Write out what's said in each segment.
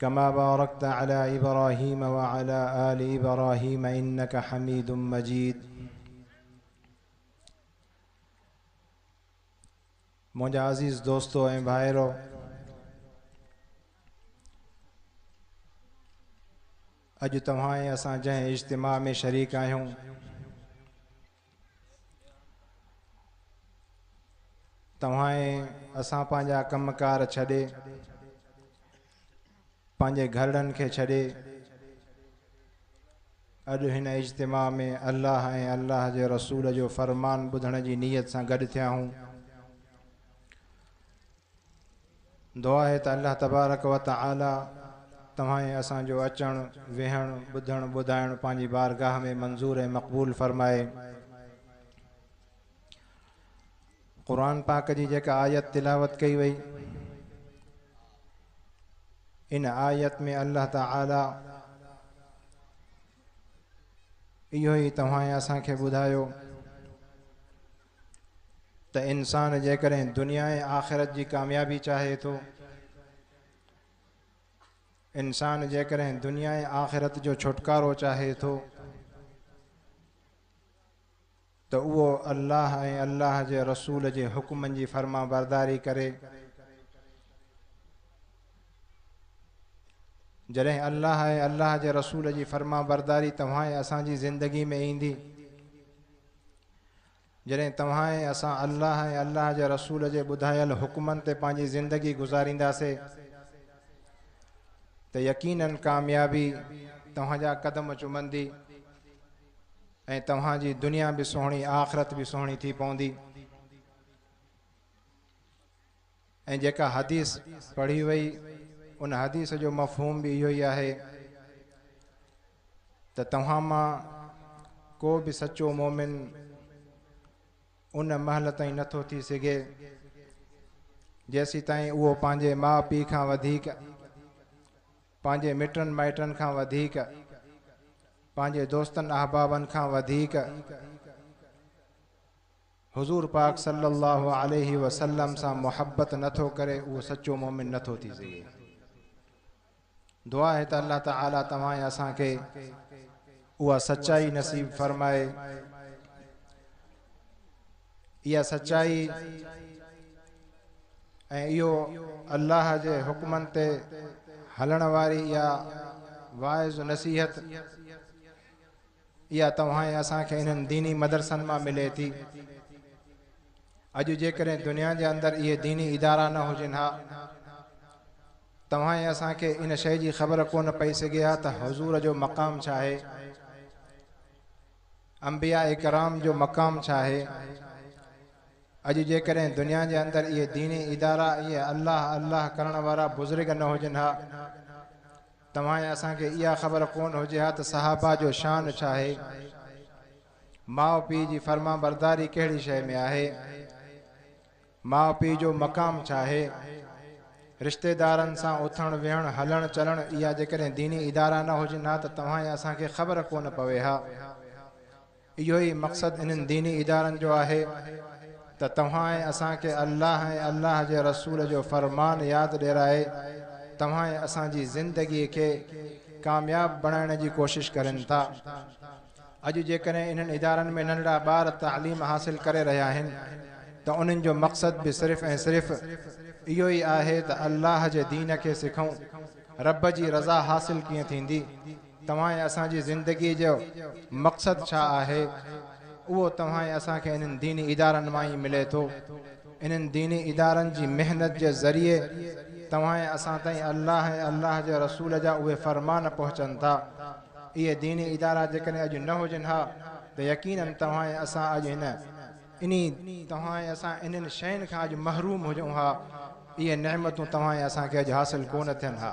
ڪما بارڪت علي ابراهيم وعلي آل ابراهيم انڪ حميد مجيد منهنجا عزيز دوستو ۽ ڀائرو اڄ توهان ۽ اسان جنهن اجتماع ۾ شريڪ آهيون توهان ۽ اسان پنهنجا ڪم ڪار ڇڏي، پنهنجي گهرڙن کي ڇڏي اڄ هن اجتماع ۾ الله ۽ الله جي رسول جو فرمان ٻڌڻ جي نيت سان گڏ ٿيا آهون. دعا آهي ته الله تبارڪ و تعالي توهان ۽ اسان جو اچڻ، ويهڻ، ٻڌڻ، ٻڌائڻ پنهنجي بارگاهه ۾ منظور ۽ مقبول فرمائي. قرآن پاڪ جي جيڪا آيت تلاوت ڪئي وئي، ان آيت ۾ الله تعالي اهو ئي توهان ۽ اسان کي ٻڌايو ته انسان جيڪڏهن دنيا ۽ آخرت جي ڪاميابي چاهي ٿو، انسان جيڪڏهن دنيا ۽ آخرت جو ڇوٽڪارو چاهي ٿو ته اهو الله ۽ الله جي رسول جي حڪمن جي فرما برداري ڪري جڏهن الله ۽ الله جي رسول جي فرما برداري توهان ۽ اسان جي زندگي ۾ ايندي جڏهن توهان ۽ اسان الله ۽ الله جي رسول جي ٻڌايل حڪمن تي پنهنجي زندگي گذارينداسي ته يقيناً ڪاميابي توهان جا قدم چمندي ۽ توهان جي دنيا به سهڻي آخرت به سهڻي ٿي پوندي ۽ جيڪا حديث پڙهي وئي ان حديث جو مفهوم به اهو ئي آهي ته توهان مان ڪو به سچو مومن ان مهل تائين نٿو ٿي سگهي جيسي تائين اهو پنهنجي ماء پيء کان وڌيڪ پنهنجي مٽن مائٽن کان وڌيڪ پنهنجي دوستن احبابن کان وڌيڪ حضور پاڪ صلّي اللّٰه عليه وسلّم سان محبّت نه ٿو ڪري اهو سچو مؤمن نه ٿو ٿي سگهي. دعا آهي ته الله تعالٰي توهان ۽ اسان کي اها سچائي نصيب فرمائي. اها سچائي ۽ اهو الله جي حڪمن تي هلڻ واري اها واعظ نصيحت اها توهان ۽ اسان کي انهن ديني مدرسن مان ملي ٿي. اڄ جيڪڏهن دنيا جي اندر اهي ديني ادارا نه هجن ها، توهان ۽ اسان کي ان شيء جي خبر ڪونه پئي سگهي ها ته حضور جو مقام ڇا آهي، انبياء ڪرام جو مقام ڇا آهي. اڄ جيڪڏهن دنيا جي اندر اهي ديني ادارا، اهي الله الله ڪرڻ وارا بزرگ نه هجن ها، توهان ۽ اسان کي اها خبر ڪونه هجي ها ته صحابه جو شان ڇا آهي؟ ماء پيء جي فرمانبرداري ڪهڙي شيء ۾ آهي؟ ماء پيء جو مقام ڇا آهي؟ رشتيدارن سان اٿڻ ويهڻ، هلڻ چلڻ اها جيڪڏهن ديني ادارا نه هجن ها ته توهان ۽ اسان کي خبر ڪونه پوي ها. اهو ئي مقصد انهن ديني ادارن جو آهي ته توهان ۽ اسان کي الله ۽ الله جي رسول جو فرمان ياد ڏيرائي توهان ۽ اسان جي زندگي کي ڪامياب بڻائڻ جي ڪوشش ڪرين ٿا. اڄ جيڪڏهن انهن ادارن ۾ ننڍڙا ٻار تعليم حاصل ڪري رهيا آهن ته انهن جو مقصد به صرف ۽ صرف اهو ئي آهي ته الله جي دين کي سکون، رب جي رضا حاصل ڪيئن ٿيندي؟ توهان ۽ اسان جي زندگيء جو مقصد ڇا آهي؟ اهو توهان ۽ اسان کي انهن ديني ادارن مان ئي ملي ٿو. انهن ديني ادارن جي محنت جي ذريعي توهان ۽ اسان تائين الله ۽ الله جي رسول جا اهي فرمان پهچن ٿا. اهي ديني ادارا جيڪڏهن اڄ نه هجن ها ته يقيناً توهان ۽ اسان اڄ هن انهي توهان ۽ اسان انهن شين کان اڄ محروم هجون ها. اهي نعمتون توهان ۽ اسان کي اڄ حاصل ڪونه ٿين ها.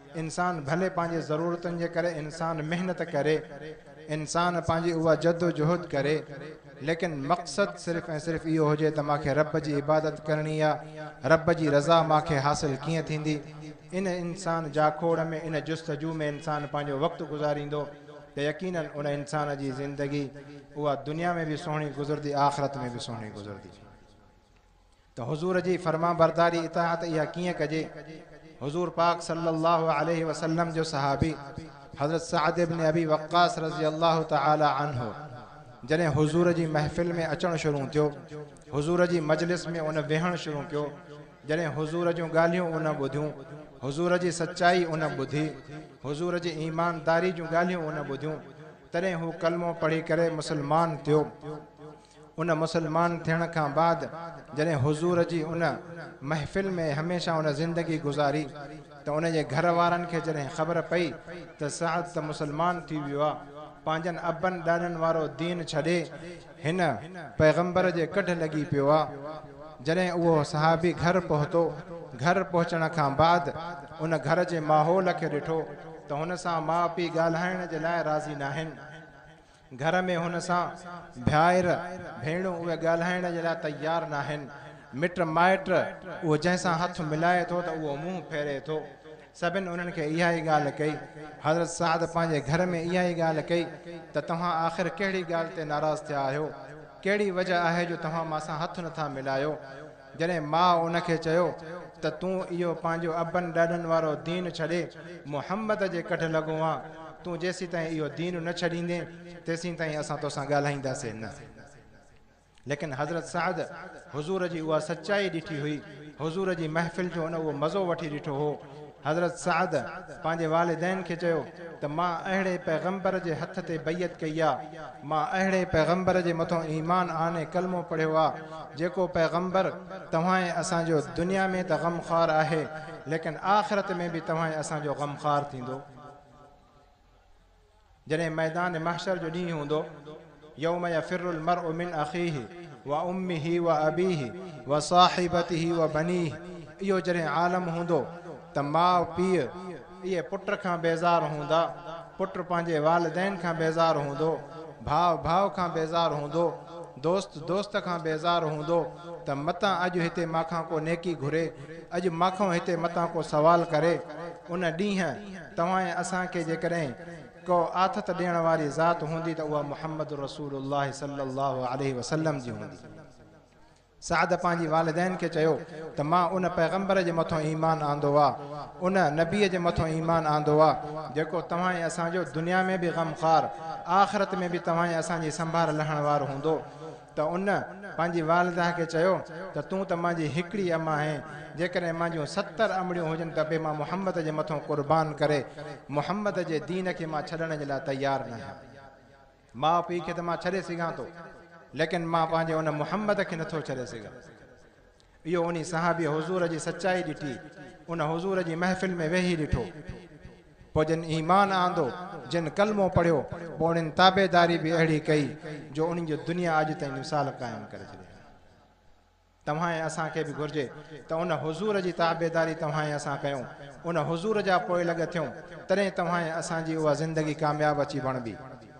انسان ڀلي پنهنجي ضرورتن جي ڪري انسان محنت ڪري، انسان پنهنجي اها جدوجهد ڪري، ليڪن مقصد صرف ۽ صرف اهو هجي ته مان کي رب جي عبادت ڪرڻي آ، رب جي رضا مان کي حاصل ڪيئن ٿيندي؟ ان انسان جاکوڙ ۾ ان جستجو ۾ انسان پنهنجو وقت گذاريندو ته يقيناً ان انسان جي زندگي اها دنيا ۾ به سهڻي گذرندي آخرت ۾ به سهڻي گذرندي. ته حضور جي فرمانبرداري، اطاعت، اها ڪيئن ڪجي؟ حضور پاڪ صلّي اللّٰه عليه وسلّم جو صحابي حضرت سعد بن ابي وقّاص رضي اللّٰه تعالٰي عنه جڏهن حضور جي محفل ۾ اچڻ شروع ٿيو، حضور جي مجلس ۾ ان ويهڻ شروع ڪيو، جڏهن حضور جون ڳالهيون ان ٻڌيون، حضور جي سچائي ان ٻڌي، حضور جي ايمانداري جون ڳالهيون ان ٻڌيون، تڏهن هو ڪلمو پڙهي ڪري مسلمان ٿيو. ان مسلمان ٿيڻ کان بعد جڏهن حضور جي ان محفل ۾ هميشه ان زندگي گذاري ته ان جي گهر وارن کي جڏهن خبر پئي ته سعد ته مسلمان ٿي ويو آ پنهنجن ابن ڏاڏن وارو دين ڇڏي هن پيغمبر جي ڪڍ لڳي پيو آ جڏهن اهو صحابي گهر پهتو گهر پهچڻ کان بعد ان گهر جي ماحول کي ڏٺو ته هن سان ماء پي ڳالهائڻ جي لاء راضي ناهن. گهر ۾ هن سان ڀائر ڀيڻون اهي ڳالهائڻ جي لاء تيار ناهن. مٽ مائٽ اهو جنهن سان هٿ ملائي ٿو ته اهو منهن ڦيري ٿو. سڀن انهن کي اها ئي ڳالهه ڪئي. حضرت سعد پنهنجي گهر ۾ اها ئي ڳالهه ڪئي ته توهان آخر ڪهڙي ڳالهه تي ناراض ٿيا آهيو؟ ڪهڙي وجه آهي جو توهان مان سان هٿ نٿا ملايو؟ جڏهن ماء ان کي چيو ته تون اهو پنهنجو ابن ڏاڏن وارو دين ڇڏي محمد جي ڪڍ لڳو آن، تون جيسيتائين اهو دين نه ڇڏيندين تيسيتائين اسان توسان ڳالهائينداسين نه. ليڪن حضرت سعد حضور جي اها سچائي ڏٺي هئي، حضور جي محفل جو ان اهو مزو وٺي ڏٺو هو، حضرت سعد پنهنجي والدين کي چيو ته مان اهڙي پيغمبر جي هٿ تي بيعت ڪئي آ، مان اهڙي پيغمبر جي مٿون ايمان آڻي ڪلمو پڙهيو آ، جيڪو پيغمبر توهان ۽ اسان جو دنيا ۾ ته غم خوار آهي، ليڪن آخرت ۾ به توهان ۽ اسان جو غم خوار ٿيندو. جڏهن ميدان محشر جو ڏينهن هوندو، يوم يفر المرء من اخيه وامه وابيه وصاحبته وبنيه اهو جڏهن عالم هوندو ته ماء پيء اهي پٽ کان بيزار هوندا، پٽ پنهنجي والدين کان بيزار هوندو، ڀاء ڀاء کان بيزار هوندو، دوست دوست کان بيزار هوندو ته متان اڄ هتي مان کان ڪو نيڪي گهري، اڄ مان کان هتي متان ڪو سوال ڪري، ان ڏينهن. توهان ۽ اسان کي جيڪڏهن ڪو آٿت ڏيڻ واري ذات هوندي ته اها محمد رسول الله صلي الله عليه وسلم جي هوندي. سعد پنهنجي والدين کي چيو ته مان ان پيغمبر جي مٿو ايمان آندو آ، ان نبي جي مٿو ايمان آندو آ، جيڪو توهان ۽ اسان جو دنيا ۾ به غمخوار، آخرت ۾ به توهان ۽ اسان جي سنڀار لهڻ وارو هوندو. ته ان پنهنجي والده کي چيو ته تون ته منهنجي هڪڙي اما آهين، جيڪڏهن منهنجيون ستر امڙيون هجن ته به مان محمد جي مٿون قربان ڪري محمد جي دين کي مان ڇڏڻ جي لاء تيار ناهيان. ماء پيء کي ته مان ڇڏي سگهان ٿو، ليڪن مان پنهنجي ان محمد کي نٿو ڇڏي سگهان. اهو انهي صحابيء حضور جي سچائي ڏٺي، ان حضور جي محفل ۾ ويهي ڏٺو، پوء جن ايمان آندو، جن ڪلمو پڙهيو، پوء انهن تابعداري به اهڙي ڪئي، جو انهن جو دنيا اڄ تائين مثال قائم ڪري ڇڏيا آهي. توهان ۽ اسان کي به گهرجي ته ان حضور جي تابعداري توهان ۽ اسان ڪيون، ان حضور جا پوئلڳ ٿيون، تڏهن توهان ۽ اسان جي اها زندگي ڪامياب اچي بڻبي.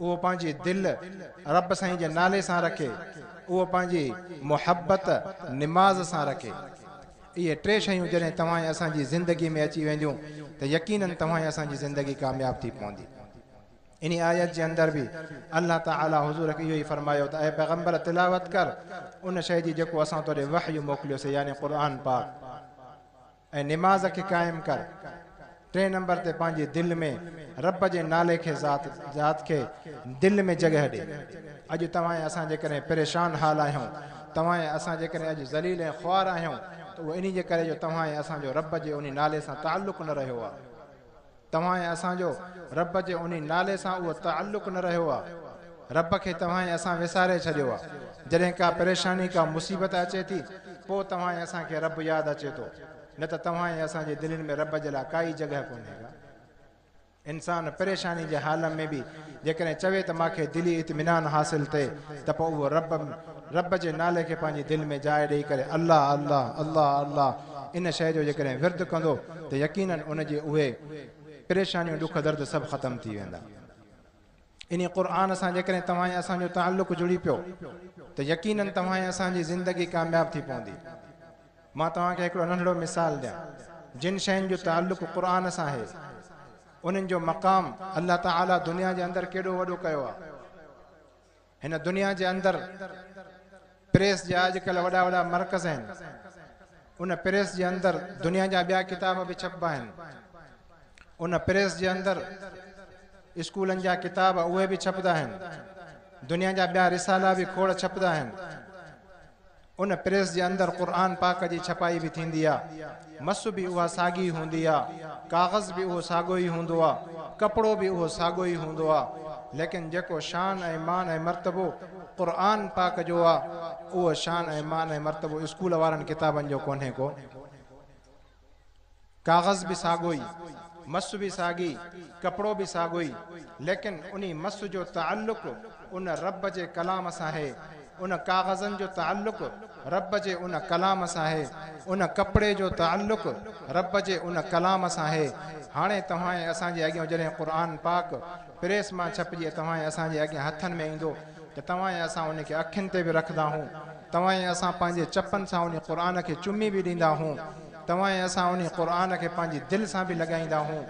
اهو پنهنجي دل رب سائين جي نالي سان رکي، اهو پنهنجي محبت نماز سان رکي. اهي ٽي شيون جڏهن توهان ۽ اسان جي زندگي ۾ اچي وينديون ته يقينن توهان ۽ اسان جي زندگي ڪامياب ٿي پوندي. انهي آيت جي اندر به الله تعالي حضور کي اهو ئي فرمايو ته اي پيغمبر تلاوت ڪر ان شيء جي جيڪو اسان توڏي وحي موڪليوسين يعني قرآن پاڪ. ۽ نماز کي قائم ڪر. ٽئين نمبر تي پنهنجي دل ۾ رب جي نالي کي ذات ذات کي دل ۾ جڳهه ڏي. اڄ توهان ۽ اسان جيڪڏهن پريشان حال آهيون، توهان ۽ اسان جيڪڏهن اڄ ذليل ۽ خوار آهيون ته اهو انهي جي ڪري جو توهان ۽ اسان جو رب جي انهي نالي سان تعلق نه رهيو آهي. توهان ۽ اسان جو رب جي انهي نالي سان اهو تعلق نه رهيو آهي. رب کي توهان ۽ اسان وساري ڇڏيو آهي. جڏهن ڪا پريشاني، ڪا مصيبت اچي ٿي، پوء توهان ۽ اسان کي رب ياد اچي ٿو، نه ته توهان ۽ اسان جي دلين ۾ رب جي لاء ڪائي جڳهه ڪونهي ڪا. انسان پريشاني جي حال ۾ به جيڪڏهن چوي ته مان کي دلي اطمينان حاصل ٿئي ته پوء اهو رب رب جي نالي کي پنهنجي دل ۾ جاء ڏئي ڪري الله الله الله الله ان شيء جو جيڪڏهن ورد ڪندو ته يقينن ان جي اهي پريشانيون ڏک درد سڀ ختم ٿي ويندا. انهي قرآن سان جيڪڏهن توهان ۽ اسان جو تعلق جڙي پيو ته يقينن توهان ۽ اسان جي زندگي ڪامياب ٿي پوندي. مان توهان کي هڪڙو ننڍڙو مثال ڏيان جن شين جو تعلق قرآن سان آهي انهن جو مقام الله تعالي دنيا جي اندر ڪيڏو وڏو ڪيو آهي. هن دنيا جي اندر پريس جا اڄڪلهه وڏا وڏا مرڪز آهن. ان پريس جي اندر دنيا جا ٻيا ڪتاب به ڇپبا آهن. ان پريس جي اندر اسڪولن جا ڪتاب اهي به ڇپدا آهن. دنيا جا ٻيا رسالا به کوڙ ڇپدا آهن. ان پريس جي اندر قرآن پاڪ جي ڇپائي به ٿيندي آ. مس به اها ساڳي هوندي آ. ڪاغذ به اهو ساڳو ئي هوندو آ. ڪپڙو به اهو ساڳو ئي هوندو آ. ليڪن جيڪو شان ۽ مان ۽ مرتبو قرآن پاڪ جو آ اهو شان ۽ مان ۽ مرتبو اسڪول وارن ڪتابن جو ڪونهي ڪو. ڪاغذ به ساڳو ئي، مس به ساڳي، ڪپڙو به ساڳو ئي، ليڪن انهي مس جو تعلق ان رب جي ڪلام سان هي، ان ڪاغذن جو تعلق رب جي ان ڪلام سان هي، ان ڪپڙي جو تعلق رب جي ان ڪلام سان هي. هاڻي توهان ۽ اسان جي اڳيان جڏهن قرآن پاڪ پريس مان ڇپجي توهان ۽ اسان جي اڳيان هٿن ۾ ايندو ته توهان ۽ اسان ان کي اکين تي به رکنداهون توهان ۽ اسان پنهنجي چپن سان انهي قرآن کي چمي به ڏيندا هون. توهان ۽ اسان انهي قرآن کي پنهنجي دل سان به لڳائيندا هون.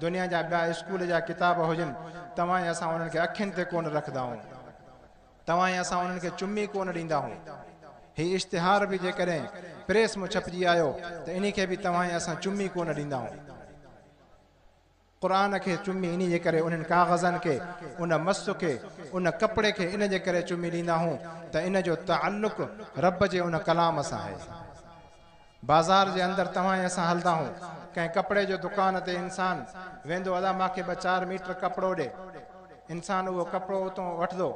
دنيا جا ٻيا اسڪول جا ڪتاب هجن، توهان ۽ اسان انهن کي اکين تي ڪونه رکندا هون. توهان ۽ اسان انهن کي چمي ڪونه ڏيندا هون. هي اشتهار به جيڪڏهن پريس مان ڇپجي آيو ته انهي کي به توهان ۽ اسان چمي ڪونه ڏيندا هون. قرآن کي چمي انهي جي ڪري انهن ڪاغذن کي، ان مس کي، ان ڪپڙي کي ان جي ڪري چمي ڏيندا هون ته ان جو تعلق رب جي ان ڪلام سان آهي. بازار جي اندر توهان ۽ اسان هلدا هون، ڪنهن ڪپڙي جو دڪان تي انسان ويندو ادا مان کي ٻه چار ميٽر ڪپڙو ڏي، انسان اهو ڪپڙو اتون وٺدو،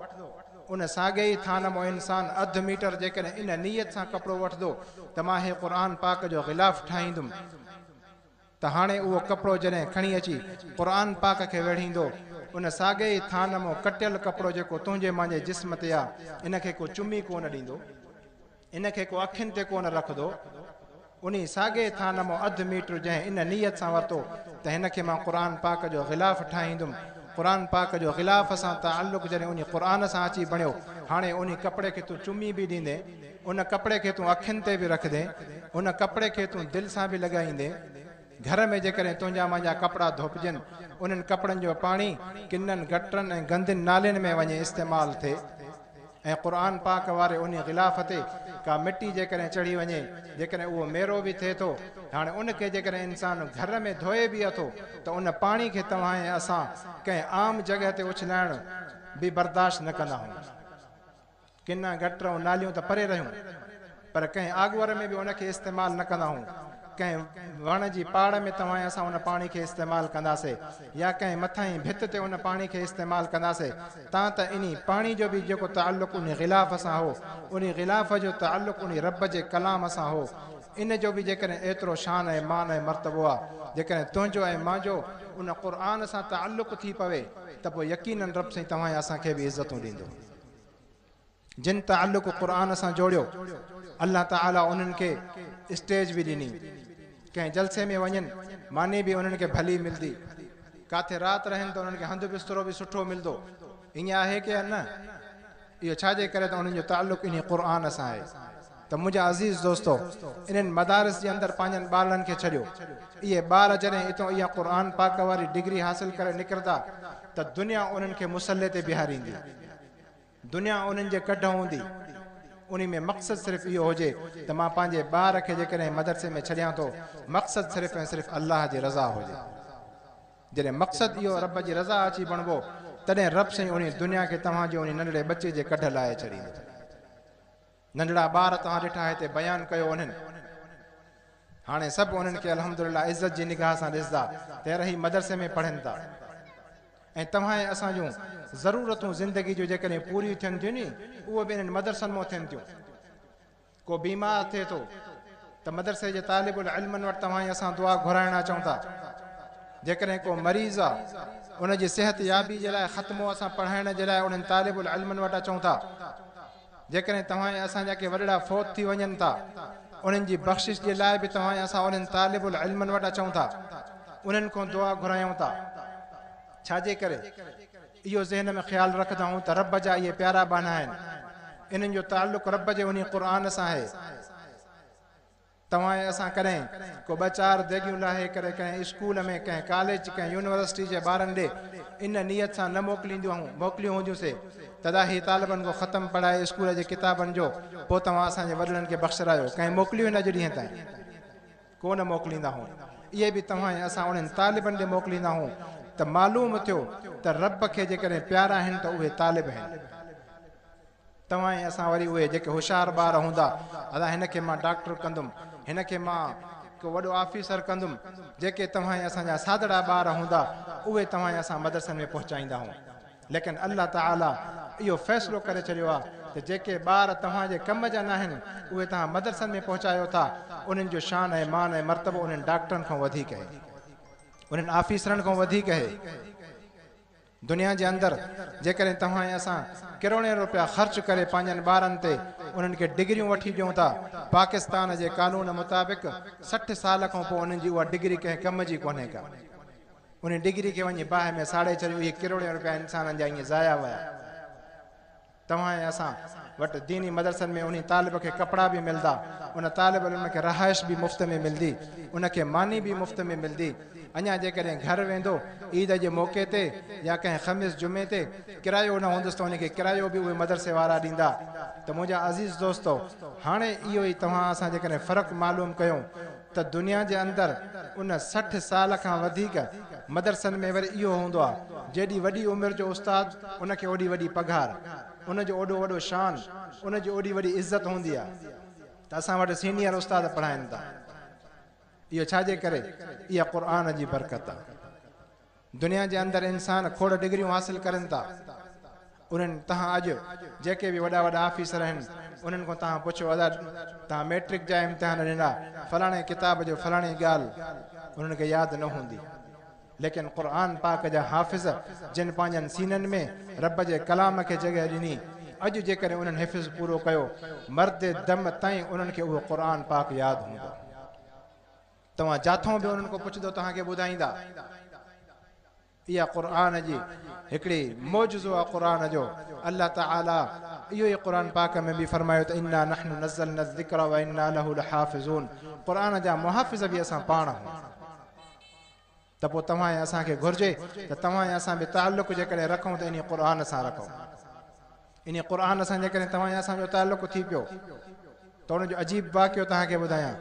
ان ساڳئي ئي ٿانه مون انسان اڌ ميٽر جيڪڏهن ان نيت سان ڪپڙو وٺدو ته مان هي قرآن پاڪ جو غلاف ٺاهيندم، ته هاڻي اهو ڪپڙو جڏهن کڻي اچي قرآن پاڪ کي ويڙهيندو، ان ساڳئي ئي ٿانء مون ڪٽيل ڪپڙو جيڪو تنهنجي مانجي جسم تي آ، ان کي ڪو چمي ڪو نه ڏيندو، ان کي ڪو اکين تي ڪو نه رکدو، انهي ساڳئي ٿانء مون اڌ ميٽر جنهن ان نيت سان ورتو ته هن کي مان قرآن پاڪ جو غلاف ٺاهيندم، قرآن پاڪ جو غلاف سان تعلق جڏهن انهي قرآن سان اچي بڻيو، هاڻي انهي ڪپڙي کي تون چمي به ڏيندين. ان ڪپڙي کي تون اکين تي به رکندين، ان ڪپڙي کي تون دل سان به لڳائيندين. گهر ۾ جيڪڏهن تنهنجا منهنجا ڪپڙا ڌوپجن، انهن ڪپڙن جو پاڻي ڪنن گٽرن ۽ گندين نالين ۾ وڃي استعمال ٿئي ۽ قرآن پاڪ واري انهي غلاف تي ڪا مٽي جيڪڏهن چڙهي وڃي، جيڪڏهن اهو ميرو به ٿئي ٿو، هاڻي ان کي جيڪڏهن انسان گهر ۾ ڌوئي به اٿو ته ان پاڻي کي توهان ۽ اسان ڪنهن عام جڳهه تي اڇلائڻ به برداشت نه ڪنداهون. ڪن گٽر ۽ ناليون ته پري رهيون پر ڪنهن آڳوهر ۾ به ان کي استعمال نه ڪندا هئون. ڪنهن وڻ جي پاڙ ۾ توهائين اسان ان پاڻي کي استعمال ڪنداسي يا ڪنهن مٿاهين ڀت تي ان پاڻي کي استعمال ڪنداسي تان ته انهي پاڻي جو به جيڪو تعلق انهي غلاف سان هو انهي غلاف جو تعلق انهي رب جي ڪلام سان هو ان جو به جيڪڏهن ايترو شان ۽ مان ۽ مرتبو آ جيڪڏهن تنهنجو ۽ مانجو ان قرآن سان تعلق ٿي پوي ته پوء يقينن رب سائين توهائين اسان کي به عزتون ڏيندو. جن تعلق قرآن سان جوڙيو الله تعالي انهن کي اسٽيج به ڏني ڪنهن جلسي ۾ وڃن ماني به انهن کي ڀلي ملدي ڪاٿي رات رهن ته انهن کي هنڌ بسترو به سٺو ملدو ائين آهي ڪي نه اهو ڇا جي ڪري ته انهن جو تعلق انهي قرآن سان آهي ته منهنجا عزيز دوستو! انهن مدارس جي اندر پنهنجن ٻارڙن کي ڇڏيو. اهي ٻار جڏهن اتان اها قرآن پاڪ واري ڊگري حاصل ڪري نڪرندا ته دنيا انهن کي مصلي تي بيهاريندي. دنيا انهن جي ڪڍ هوندي. انهي ۾ مقصد صرف اهو هجي ته مان پنهنجي ٻار کي جيڪڏهن مدرسي ۾ ڇڏيان ٿو مقصد صرف ۽ صرف الله جي رضا هجي. جڏهن مقصد اهو رب جي رضا اچي بڻبو تڏهن رب سائين انهي دنيا کي توهان جي انهي ننڍڙي ٻچي جي ڪڍ لاهي ڇڏيندو. ننڍڙا ٻار توهان ڏٺا هتي بيان ڪيو انهن هاڻي سڀ انهن کي الحمدلله عزت جي نگاهه سان ڏسدا ته رهي مدرسي ۾ پڙهن ٿا ۽ توهان ۽ اسان جون ضرورتون زندگي جون جيڪڏهن پوريون ٿين ٿيون ني اهو به انهن مدرسن مون ٿين ٿيون ڪو بيمار ٿئي ٿو ته مدرسي جي طالب العلمن وٽ توهان ۽ اسان دعا گهرائڻ اچون ٿا جيڪڏهن ڪو مريض آ ان جي صحت يابي جي لاء ختمو اسان پڙهائڻ جي لاء انهن طالب العلمن وٽ اچون ٿا جيڪڏهن توهان ۽ اسان جا ڪي وڏڙا فوت ٿي وڃن ٿا، انهن جي بخشش جي لاء به توهان ۽ اسان انهن طالب العلمن وٽ اچون ٿا، انهن کون دعا گهرايون ٿا. ڇا جي ڪري اهو ذهن ۾ خيال رکندائون ته رب جا اهي پيارا ٻانها آهن، انهن جو تعلق رب جي انهي قرآن سان آهي. توهان ۽ اسان ڪڏهن ڪو ٻه چار ديڳيون لاهي ڪري ڪنهن اسڪول ۾ ڪنهن ڪاليج ڪنهن يونيورسٽي جي ٻارن ڏي ان نيت سان نه موڪلينديون موڪليون هونديون سي تداهي طالبن کان ختم پڙهائي اسڪول جي ڪتابن جو پو توهان اسان جي وڏڙن کي بخشرايو ڪنهن موڪليون نه اڄ ڏينهن تائين ڪو نه موڪليندا هون اهي به توهان ۽ اسان انهن طالبن ڏي موڪليندا هون ته معلوم ٿيو ته رب کي جيڪڏهن پيارا آهن ته اهي طالب آهن. توهان ۽ اسان وري اهي جيڪي هوشيار ٻار هوندا ادا هن کي مان ڊاڪٽر ڪندم هن کي مان ڪو وڏو آفيسر ڪندم جيڪي توهان ۽ اسان جا سادڙا ٻار هوندا اهي توهان ۽ اسان مدرسن ۾ پهچائيندا هون ليڪن الله تعالي اهو فيصلو ڪري ڇڏيو آ ته جيڪي ٻار توهان جي ڪم جا ناهن اهي توهان مدرسن ۾ پهچايو ٿا انهن جو شان ۽ مان ۽ مرتبو انهن ڊاڪٽرن کان وڌيڪ اهي انهن آفيسرن کان وڌيڪ اهي. دنيا جي اندر جيڪڏهن توهان ۽ اسان ڪروڙين روپيا خرچ ڪري پنهنجن ٻارن تي انهن کي ڊگريون وٺي ڏيون ٿا، پاڪستان جي قانون مطابق سٺ سال کان پوء انهن جي اها ڊگري ڪنهن ڪم جي ڪونهي ڪا. انهي ڊگري کي وڃي باهه ۾ ساڙي ڇڏيو اهي ڪروڙين روپيا انسانن جا ائين ضايع ويا. توهان ۽ اسان وٽ ديني مدرسن ۾ انهي طالب کي ڪپڙا به ملدا، ان طالب علم کي رهائش به مفت ۾ ملدي، ان کي ماني به مفت ۾ ملدي، اڃا جيڪڏهن گهر ويندو عيد جي موقعي تي يا ڪنهن خميس جمعي تي ڪرايو نه هوندس ته ان کي ڪرايو به اهي مدرسي وارا ڏيندا ته منهنجا عزيز دوستو هاڻي اهو ئي توهان اسان جيڪڏهن فرق معلوم ڪيون ته دنيا جي اندر ان سٺ سال کان وڌيڪ مدرسن ۾ وري اهو هوندو آ، جيڏي وڏي عمر جو استاد ان کي اوڏي وڏي پگهار، ان جو اوڏو وڏو شان، ان جي اوڏي وڏي عزت هوندي آ ته اسان وٽ سينيئر استاد پڙهائين ٿا. اهو ڇا جي ڪري؟ اها قرآن جي برڪت آ. دنيا جي اندر انسان کوڙ ڊگريون حاصل ڪرن ٿا انهن تهان اڄ جيڪي به وڏا وڏا آفيسر آهن انهن کان تهان پڇو ادا تهان ميٽرڪ جا امتحان ڏنا فلاڻي ڪتاب جو فلاڻي ڳالھ انهن کي ياد نه هوندي ليڪن قرآن پاڪ جا حافظ جن پنهنجن سينن ۾ رب جي ڪلام کي جڳهه ڏني اڄ جيڪڏهن انهن حفظ پورو ڪيو مرد دم تائين انهن کي اهو قرآن پاڪ ياد هوندو توهان جاٿو به انهن کان پڇندو توهان کي ٻڌائيندا. اها قرآن جي هڪڙي معجزو آ قرآن جو الله تعالي اهو ئي قرآن پاڪ ۾ به فرمايو ته انا نحن نزلنا الذکر وانا له لحافظون قرآن جا محافظ به اسان پاڻ آهون. ته پوء توهان ۽ اسان کي گهرجي ته توهان ۽ اسان به تعلق جيڪڏهن رکون ته انهي قرآن سان رکون. انهي قرآن سان جيڪڏهن توهان ۽ اسان جو تعلق ٿي پيو ته ان جو عجيب واقعو توهان کي ٻڌايان.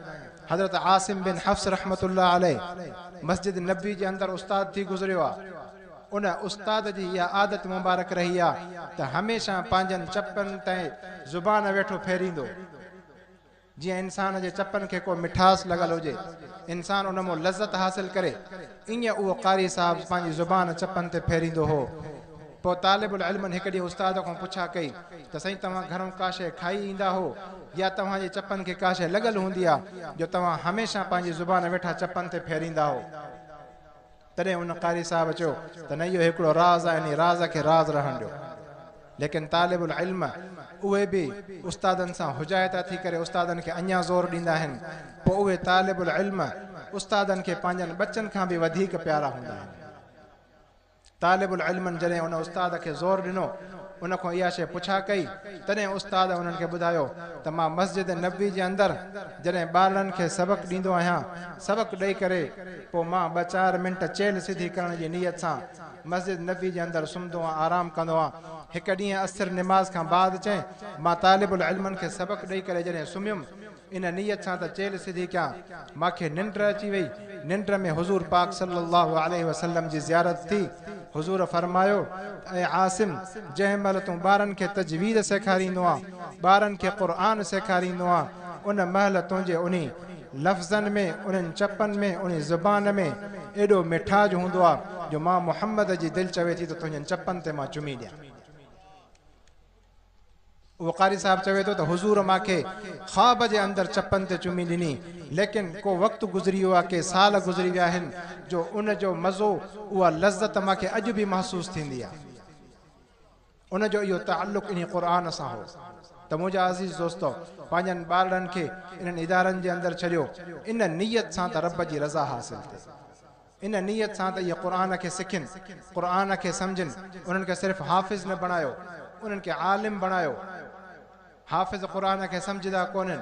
حضرت عاصم بن حفص رحمة الله عليه مسجد نبوي جي اندر استاد ٿي گذريو آ. ان استاد جي اها عادت مبارڪ رهي آ ته هميشه پنهنجن چپن تي زبان ويٺو ڦيريندو. جيئن انسان جي چپن کي ڪو مٺاس لڳل هجي، انسان ان مان لذت حاصل ڪري، ائين اهو قاري صاحب پنهنجي زبان چپن تي ڦيريندو هو. پوء طالب العلمن هڪ ڏينهن استاد کان پڇا ڪئي ته سائين توهان گهرون ڪا شيء کائي ايندا هو يا توهان جي چپن کي ڪا شيء لڳل هوندي ها جو توهان هميشه پنهنجي زبان ويٺا چپن تي ڦيريندا هو؟ تڏهن ان قاري صاحب چيو ته نه اهو هڪڙو راز آهي انهي راز کي راز رهڻ ڏيو ليڪن طالب العلم اهي به استادن سان حجايتا ٿي ڪري استادن کي اڃان زور ڏيندا آهن پوء اهي طالب العلم استادن کي پنهنجن ٻچن کان به وڌيڪ پيارا هوندا آهن طالب العلمن جڏهن ان استاد کي زور ڏنو ان کان اها شي پڇا ڪئي تڏهن استاد انهن کي ٻڌايو ته مان مسجد نبوي جي اندر جڏهن ٻارڙن کي سبق ڏيندو آهيان سبق ڏئي ڪري پوء مان ٻه چار منٽ چيلهه سڌي ڪرڻ جي نيت سان مسجد نبوي جي اندر سمهندو ۽ آرام ڪندو هان. هڪ ڏينهن عصر نماز کان بعد چئين مان طالب العلمن کي سبق ڏئي ڪري جڏهن سمهيم ان نيت سان ته چيلهه سڌي ڪيان مان کي ننڊ اچي وئي ننڊ ۾ حضور پاڪ صلي الله عليه وسلم جي زيارت ٿي حضور فرمايو ته اي عاصم جنهن مهل تون ٻارن کي تجويد سيکاريندو هان ٻارن کي قرآن سيکاريندو هان ان مهل تنهنجي انهي لفظن ۾ انهن چپن ۾ انهي زبان ۾ ايڏو مٺاج هوندو آ جو مان محمد جي دل چوي ٿي ته تنهنجن چپن تي مان چمي ڏيان. اهو قاري صاحب چوي ٿو ته حضور مان کي خواب جي اندر چپن تي چمي ڏني ليڪن ڪو وقت گذري ويو آ ڪي سال گذري ويا آهن جو ان جو مزو اها لذت مان کي اڄ به محسوس ٿيندي آ. ان جو اهو تعلق انهي قرآن سان هو ته منهنجا عزيز دوستو! پنهنجن ٻارڙن کي انهن ادارن جي اندر ڇڏيو ان نيت سان ته رب جي رضا حاصل ٿئي. ان نيت سان ته اهي قرآن کي سکين، قرآن کي سمجهن، انهن کي صرف حافظ نه بڻايو، انهن کي عالم بڻايو. حافظ قرآن کي سمجهندا ڪونهن،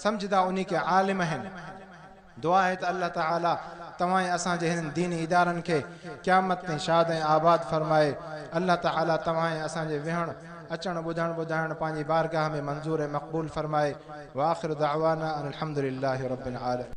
سمجهندا انهي کي عالم آهن. دعا آهي ته الله تعالي توهان ۽ اسان جي هنن ديني ادارن کي قيامت تائين شاد ۽ آباد فرمائي. الله تعالي توهان ۽ اسان جي ويهڻ، اچڻ، ٻڌڻ، ٻڌائڻ پنهنجي بارگاهه ۾ منظور ۽ مقبول فرمائي. واخر دعوانا ان الحمدلله رب العالمين.